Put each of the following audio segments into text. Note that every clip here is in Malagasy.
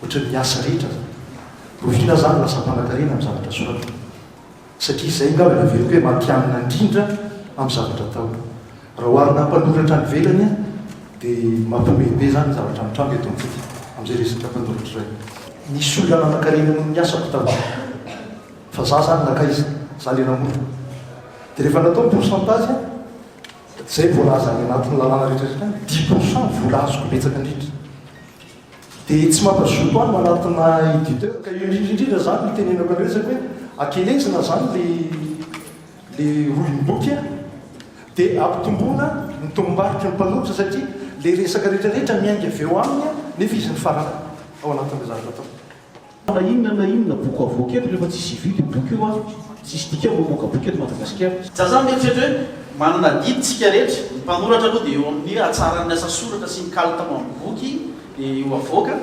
Ohatry ny asa rehetra zany. Rofina zany lasa mpanakarena am zavatra soratiny. Satria zay ngamba no heveriko hoe matihanina indrindra am zavatra atao. Raha oharina am mpanoratra any ivelany an de mampihomehy be zany ny zavatra mitranga eto amintsika am zay resaka mpanoratra iray. Nisy olona nanakarena noho ny asako taloha. Fa za zany nankaiza? Za le namorona. De rehefa natao ny pourcentage an zay voalaza any anatin'ny lalàna rehetra rehetra any, dix pourcent vola azoko betsaka indrindra. Dia tsy mampazoto koa ny manatona editeur. Ka io indrindra indrindra zany no itenenako anareo zany hoe akelezina zany le le rohim boky a! de ampitomboina ny tobim-barotra ny mpanoratra satria le resaka rehetra rehetra miainga avy eo aminy a! nefa izy no farany ao anatin'le zavatra ataony. Na inona na inona boky avoaka eto rehefa tsy hisy hividy io boky io an! Tsy hisy dikany ny mamoaka boky eto Madagasikara. Za zany mieritreritra hoe manana adidy tsika rehetra, ny mpanoratra aloha dia eo amin'ny hatsaran'ny asa soratra sy ny kalitao amin'ny boky eo avoaka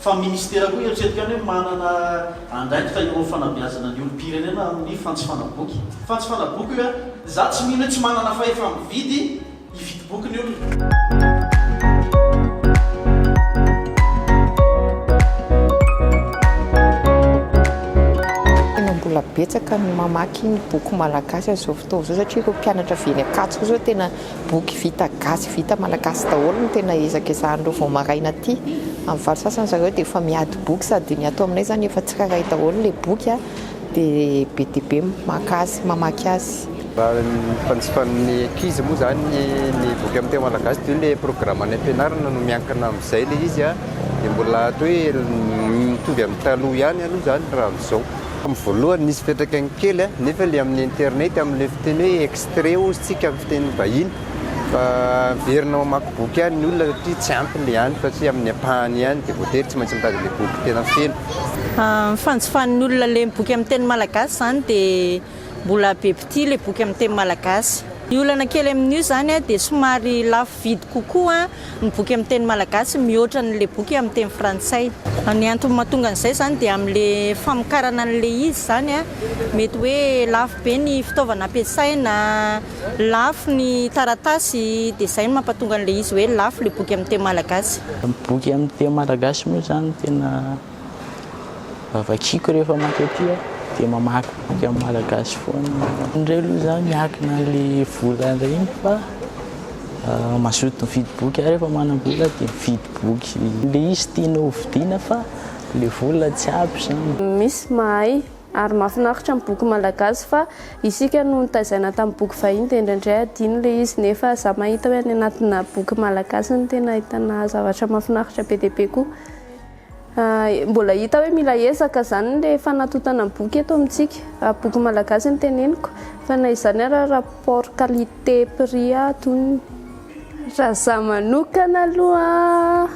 fa ministera koa eritreretiko any hoe manana andraikitra eo amin'ny fanabeazana ny olom-pirenena amin'ny fantsifana boky. Fantsifana boky io an! Za tsy mino hoe tsy manana fahefa-mividy. hividy boky ny olona. Mbola betsaka ny mamaky ny boky malagasy amin'izao fotoana izao satria ireo mpianatra avy eny Ankatso koa izao tena boky vita gasy, vita malagasy daholo no tena ezakezahan'ireo vao maraina aty. Amin'ny valo sasany zareo dia efa miady boky sady ny ato aminay izany efa tsirairay daholo ilay boky. Dia be dia be maka azy, mamaky azy. Raha ny fanjifan'ny ankizy moa izany ny boky amin'ny teny malagasy dia io ilay programan'ny am-pianarana no miankina amin'izay ilay izy an, dia mbola atao hoe mitovy amin'ny taloha ihany aloha izany raha amin'izao. Tamin'ny voalohany nisy fiantraikany kely an, nefa ilay amin'ny internet amin'ilay fiteny hoe extrait hozy tsika amin'ny fiteny vahiny, Fa averina ao hamaky boky any ny olona satria tsy ampy ilay any fa tsy amin'ny ampahany ihany dia voatery tsy maintsy mitady ilay boky tena feno. Ny fanjifan'ny olona ilay boky amin'ny teny malagasy izany dia mbola be mpitia ilay boky amin'ny teny malagasy. Ny olana kely amin'io izany dia somary lafo vidy kokoa ny boky amin'ny teny malagasy mihoatra an'ilay boky amin'ny teny frantsay. Ny antony mahatonga an'izay izany dia amin'ilay famokarana an'ilay izy izany mety hoe lafo be ny fitaovana ampiasaina. Lafo ny taratasy dia izay no mampatonga an'ilay izy hoe lafo ilay boky amin'ny teny malagasy. Ny boky amin'ny teny malagasy moa izany tena vakiako rehefa mankaty aho dia mamaky boky amin'ny malagasy foana aho. Indray aloha izaho miankina an'ilay vola indray iny fa mazoto mividy boky aho rehefa manam-bola dia mividy boky ilay izy tiana hovidiana fa ilay vola tsy ampy izany. Misy mahay Ary mahafinaritra ny boky malagasy fa isika no notaizaina tamin'ny boky vahiny dia indraindray adino ilay izy nefa za mahita hoe any anatina boky malagasy no tena ahitana zavatra mahafinaritra be dia be koa. Mbola hita hoe mila ezaka izany ilay fanatotana ny boky eto amintsika raha boky malagasy no teneniko fa na izany ary rapport qualité prix atonony. Raha za manokana aloha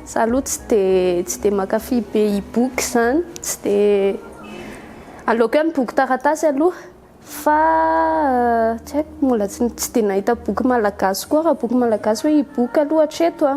za aloha tsy de tsy de mankafy be e-book zany tsy de aleoko ihany boky taratasy aloha fa tsy haiko mbola tsy tsy de nahita boky malagasy koa raha boky malagasy hoe e-book aloha hatreto a.